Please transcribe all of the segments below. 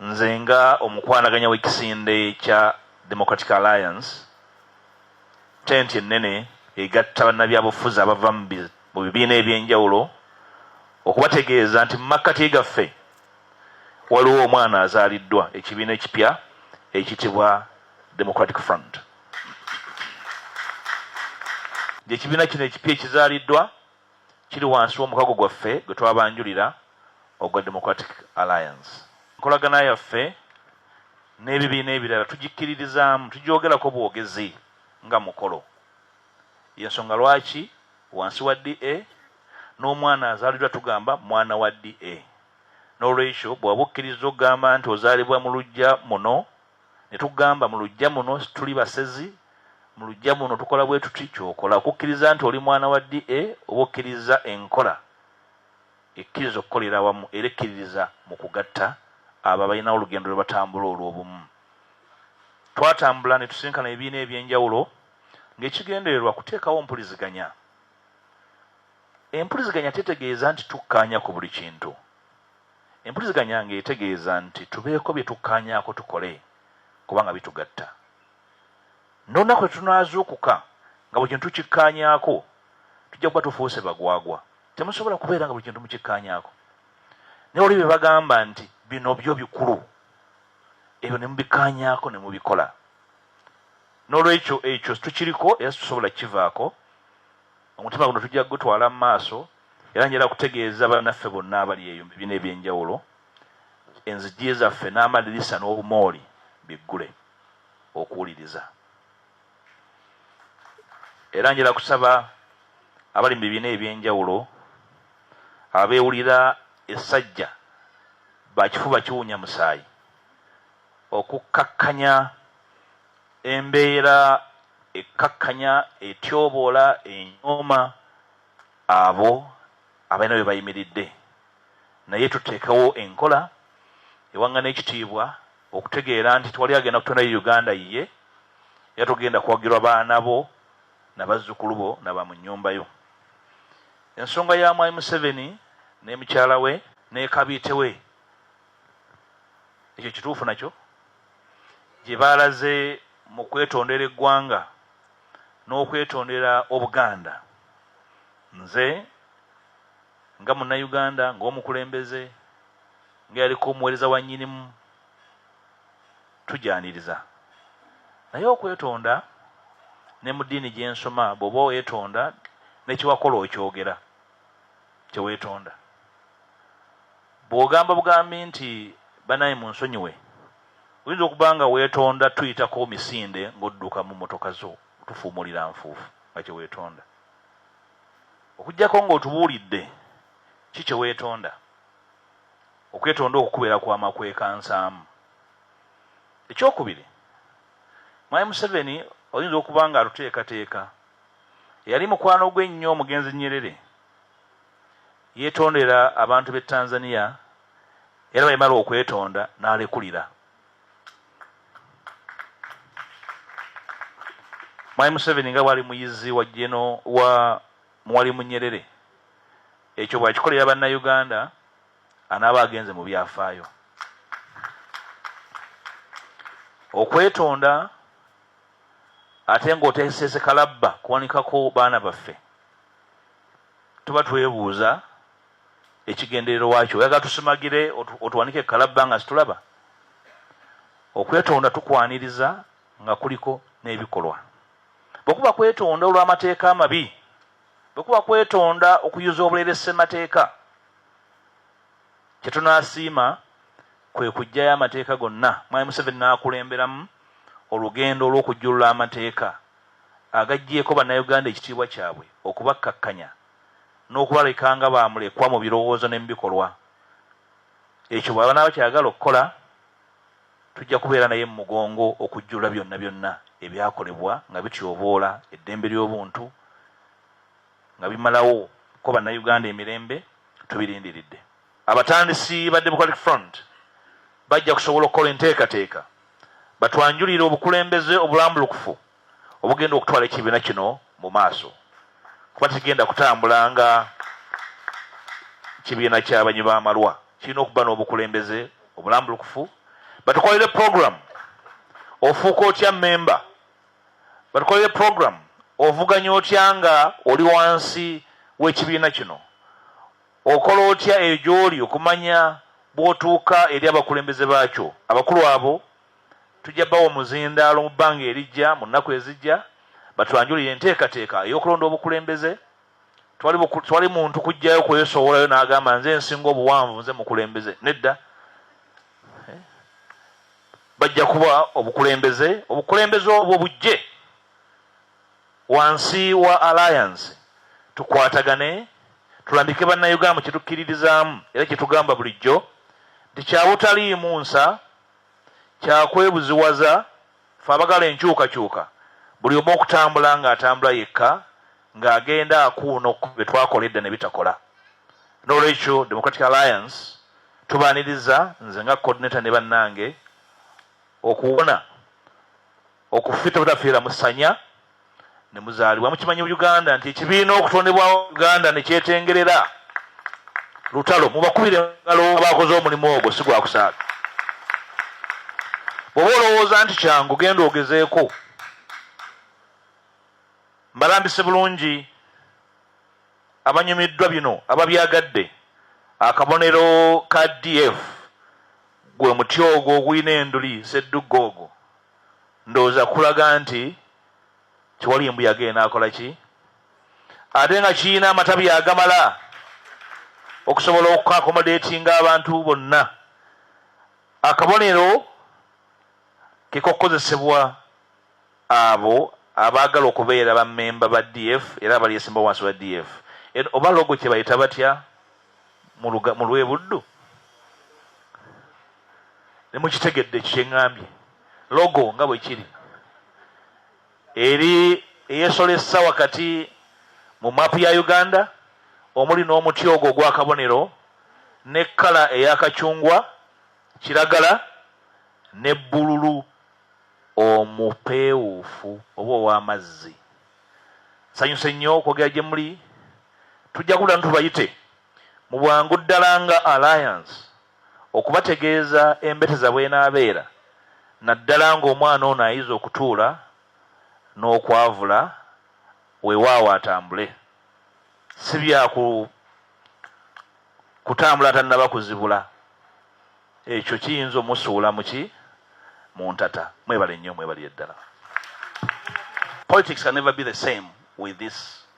Nze nga omukwanaganya w'ekisinde kya Democratic Alliance, tenti ennene egatta bannabyabufuzi abava mu bibiina eby'enjawulo okubategeeza nti mu makkati gaffe waliwo omwana azaaliddwa ekibiina ekipya ekitibwa Democratic Front. Ekibiina kino ekipya ekizaaliddwa kiri wansi w'omukago gwaffe gwe twabanjulira ogwa Democratic Alliance. Enkolagana yaffe n'ebibiina ebirala tugikkiririzaamu, tugyogerako bwogezi nga mukolo. Y'ensonga lwaki wansi wa DA, n'omwana azaaliddwa tugamba mwana wa DA. N'olwekyo bw'oba okkirizza okugamba nti ozaalibwa mu luggya muno, Ne tugamba, Mu luggya muno situli basezi, mu luggya muno tukola bwe tuti, ky'okola okukkiriza nti oli mwana wa DA oba okkirizza enkola ekkiriza okukolera awamu era ekkiririza mu kugatta abo abalinawo olugendo lwe batambula olw'obumu. Twatambula ne tusisinkana ebibiina eby'enjawulo ng'ekigendererwa kuteekawo mpuliziganya. Empuliziganya tetegeeza nti tukkaanya ku buli kintu. Empuliziganya ng'etegeeza nti tubeeko bye tukkaanyaako tukole kubanga bitugatta. N'olunaku lwe tunaazuukuka nga buli kintu tukikkaanyaako, tujja kuba tufuuse bagwagwa. Temusobola kubeera nga buli kintu mukikkaanyaako. Naye waliwo bye bagamba nti bino byo bikulu, ebyo ne mubikkaanyaako ne mubikola. N'olwekyo ekyo tukiriko era situsobola kukivaako Omutima guno tujja kugutwala mu maaso era njala kutegeeza bannaffe bonna abali eyo mu bibiina eby'enjawulo enzigi zaffe n'amadirisa n'obumooli biggule okuwuliriza. Era njala kusaba abali mu bibiina eby'enjawulo abeewulira essajja bakifuba kiwunya musaayi okukkakkanya Embeera ekkakkanya, etyoboola, enyooma abo abalina we bayimiridde naye tuteekewo enkola ewaŋŋana ekitiibwa okutegeera nti tewali agenda kutondayo Uganda yiye era togenda kuwagirwa baana bo na bazzukulu bo na ba mu nnyumba yo. Ensonga ya Mwami Museveni ne mukyala we ne kabiite we ekyo kituufu nakyo? gye baalaze mu kwetondera eggwanga n'okwetondera Obuganda. Nze nga Munnayuganda, ng'omukulembeze, ng'eyaliko omuweereza wa Nnyinimu, tugyaniriza. Naye okwetonda ne mu ddiini gye nsoma bw'oba weetonda ne kye wakola okyogera. tewetonda bwogamba bugambi nti banaye munsonyiwe oyinza okuba nga wetonda tuyitako misinde ngaodduka mu motoka zo tufuumulira nfuufu nga kyewetonda okujjako ngaotubuulidde ki kyewetonda okwetonda okukubeera kwa makwekansaamu ekyokubiri mwami museveni oyinza okuba nga atuteekateeka Eyali mukwano gwe ennyo omugenzi Nyerere yeetondera abantu b'e Tanzania era bwe yamala okwetonda n'alekulira. Mwami Museveni nga bw'ali muyizi wa jeno wa Mwalimu Nyerere ekyo bw'akikolera Bannayuganda anaaba agenze mu byafaayo. Okwetonda ate ng'oteesese kalabba kuwanikako baana baffe, tuba twebuuza ekigenderero wakyo. Oyagala tusimagire otuwanike kalabba nga situlaba? Okwetonda tukwaniriza nga kuliko n'ebikolwa. Bwe kuba kwetonda olw'amateeka amabi, bwe kuba kwetonda okuyuza obulere ssemateeka, kye tunaasiima kwe kuggyayo amateeka gonna Mwami Museveni n'akulemberamu olugendo olw'okujjulula amateeka agaggyeeko Bannayuganda ekitiibwa kyabwe, okubakkakkanya n'okubaleka nga ba mulekwa mu birowoozo ne mu bikolwa. Ekyo bw'aba n'aba ky'ayagala okukola, tujja kubeera naye mu mugongo okujjulula byonna byonna ebyakolebwa nga bityoboola eddembe ly'obuntu, nga bimalawo ko Bannayuganda emirembe, tubirindiridde. Abatandisi ba Democratic Front bajja kusobola okukola enteekateeka batwanjulire obukulembeze obulambulukufu obugenda okutwala ekibiina kino mu maaso kuba tekigenda kutambula nga kibiina ky'abanywi b'amalwa kirina okuba n'obukulembeze obulambulukufu batukolere program ofuuka otya memba batukolere program ovuganya otya nga oli wansi w'ekibiina kino Okola otya eyo gy'oli okumanya bw'otuuka eri abakulembeze baakyo? Abakulu abo tujja bawa omuzindaalo mu bbanga erijja, mu nnaku ezijja, batwanjulire enteekateeka ey'okulonda obukulembeze. Tewali, tewali muntu kujjayo kwesowolayo n'agamba, Nze nsinga obuwanvu, nze mukulembeze. Nedda. Eh? Bajja kuba obukulembeze, obukulembeze obwo bujje. Wansi wa Alliance, tukwatagane tulambike Bannayugam kye tukkiririzaamu era kye tugamba bulijjo nti kya butaliimu nsa, kya kwebuziwaza, ffe abagala enkyukakyuka buli omu okutambula ng'atambula yekka ng'agenda akuuno ku bye twakola edda ne bitakola. N'olwekyo Democratic Alliance tubaaniriza nze nga Coordinator ne bannange okuwona. Okufi tebutafiira mu sanya ne muzaalibwa. Mukimanyi Uganda nti ekibiina okutondebwawo Uganda ne kyetengerera lutalo. Mubakubire ngalo baakoze omulimu ogwo si gwa kusaaga. Bw'oba olowooza nti kyangu genda ogezeeko. Mbalambise bulungi abanyumiddwa bino ababyagadde akabonero ka DF gwe muti ogwo ogulina enduli ssedduggo ogwo. Ndowooza kulaga nti tewali embuyaga enaakola ki ate nga kirina amatabi agamala okusobola okukakomodeetinga abantu bonna. Akabonero ke kokukozesebwa abo abaagala okubeera ba memba ba DF era abalyesimbawo wansi wa DF. Eno oba logo kye bayita batya? mu lw'e Buddu? Ne mukitegedde ekyo kye ŋŋambye, logo nga bwe kiri eri eyeesolesa wakati mu maapu ya Uganda omuli n'omuti ogwo ogw'akabonero ne kkala eya kacungwa, kiragala ne bbululu omupeewuufu oba ow'amazzi. Nsanyuse nnyo okwogera gye muli Tujja kula ntubayite mu bwangu ddala nga Alliance okubategeeza embeteza bw'enaabeera naddala ng'omwana ono ayize okutuula n'okwavula weewaawo atambule si bya kutambula tannaba kuzibula ekyo kiyinza omusuula muki mu ntata mwebale nnyo mwebalire ddala politics can never be the same with this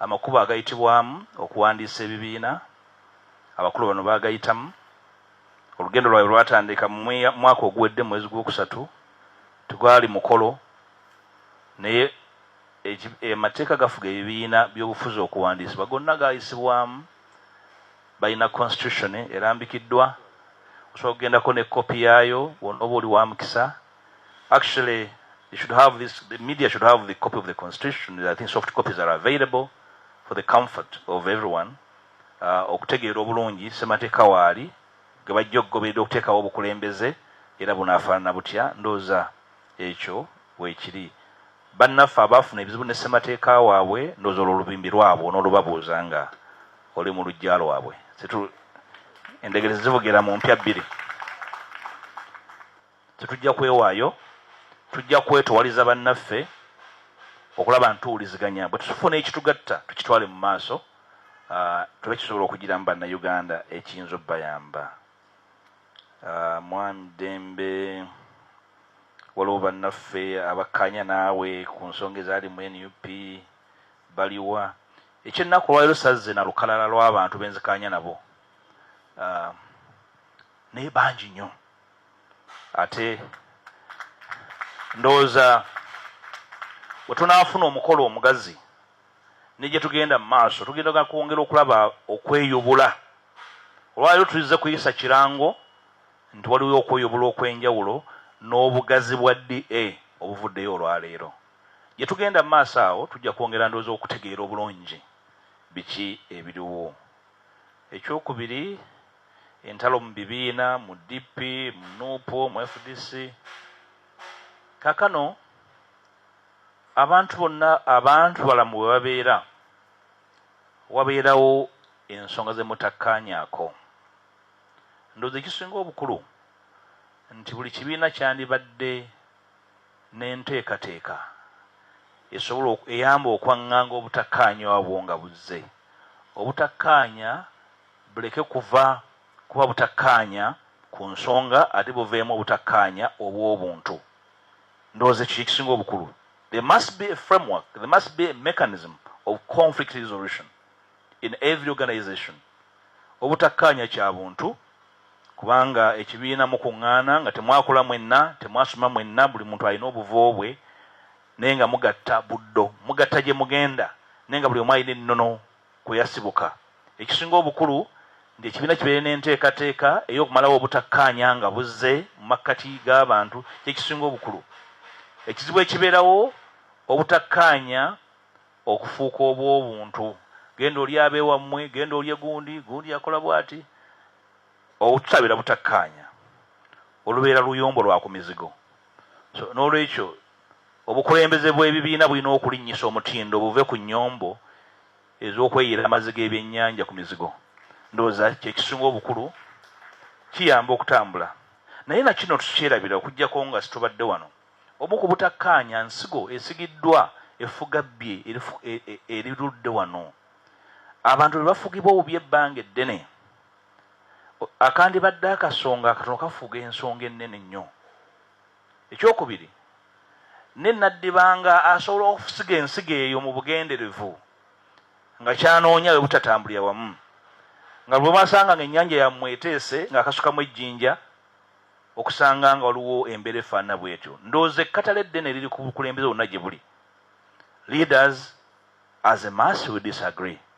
Amakubo agayitibwamu okuwandiisa ebibiina abakulu bano baagayitamu. Olugendo lwabwe lwatandika mu mwaka oguwedde mu mwezi gw'okusatu, tegwali mukolo naye amateeka gafuga ebibiina by'obufuzi okuwandiisibwa gonna gaayisibwamu, balina constitution erambikiddwa osobola okugendako ne kkopi yaayo bw'onooba oli wa mukisa. Actually, you should have this, the media should have the copy of the constitution. I think soft copies are available for the comfort of everyone. Uh, okutegeera obulungi semateeka waali ge bajja okugoberera okuteekawo obukulembeze era bunaafaanana butya ndooza ekyo weekiri bannaffe abaafuna ebizibu ne ssemateeka waabwe ndooza olwo olubimbi lwabwe n'olubabuuza nga oli mu lujja lwabwe endegere zivugira mu mpya bbiri Tetujja kwewaayo, tujja kwetowaliza bannaffe okulaba nti tuwuliziganya bwe tufuna ekitugatta tukitwale mu maaso tube kisobola okugiramu Bannayuganda ekiyinza obayamba. Mwami Ddembe, waliwo bannaffe abakkaanya naawe ku nsonga ezaali mu nup baliwa? Ekyennaku olwaliro sazze na lukalala lw'abantu benzikaanya nabo naye bangi nnyo. ate ndowooza we tunaafuna omukolo omugazi ne gye tugenda mu maaso tugenda kwongera okulaba okweyubula olwaliro tuzze kuyisa kirango nti waliwo okweyubula okw'enjawulo n'obugazi bwa da obuvuddeyo olwaleero gye tugenda mu maaso awo tujja kwongera ndowooza okutegeera obulungi biki ebiriwo ekyokubiri Entalo mu bibiina, mu DP, mu nup, mu fdc. Kakano abantu bonna abantu balamu bwe babeera wabeerawo ensonga ze mutakkaanyaako. Ndowooza ekisinga obukulu nti buli kibiina kyandibadde n'enteekateeka esobola eyamba okwanganga obutakkaanya obwo nga buzze obutakkaanya Buleke kuva kuba butakkaanya ku nsonga ate buveemu obutakkaanya obw'obuntu. Ndowooza ekyo kye kisinga obukulu. There must be a framework, there must be a mechanism of conflict resolution in every organization. Obutakkaanya kya buntu kubanga ekibiina mukuŋŋaana nga temwakula mwenna, temwasoma mwenna, buli muntu alina obuvo bwe naye nga mugatta buddo, mugatta gye mugenda naye nga buli omu alina ennono. kwe yasibuka. Ekisinga obukulu ng'ekibiina kibeere n'enteekateeka ey'okumalawo obutakkaanya nga buzze mu makkati g'abantu kye kisinga obukulu. Ekizibu ekibeerawo obutakkaanya okufuuka obw'obuntu, genda oli abe wammwe, genda olye gundi, gundi akola bw'ati. Obututabeera butakkaanya olubeera luyombo lwa ku mizigo. So n'olwekyo obukulembeze bw'ebibiina bulina okulinnyisa omutindo buve ku nnyombo ez'okweyiira amazzi g'ebyennyanja ku mizigo. Ndowooza kye kisinga obukulu, kiyamba okutambula. Naye na kino tukyerabira okuggyako nga situbadde wano. Omu ku butakkaanya nsigo esigiddwa effugabbye erirudde wano. Abantu be bafugibwa obubi ebbanga eddene. akandibadde akasonga akatono kafuga ensonga ennene ennyo. Ekyokubiri, ne naddibanga asobola okusiga ensigo eyo mu bugenderevu nga kyanoonya bwe butatambulira wamu nga lwe basanga nga ennyanja yammwe eteese ng'akasukamu ejjinja okusanga nga waliwo embeera efaanana bw'etyo ndowooza ekkatala eddene liri ku bukulembeze bonna gye buli leaders as a mass we disagree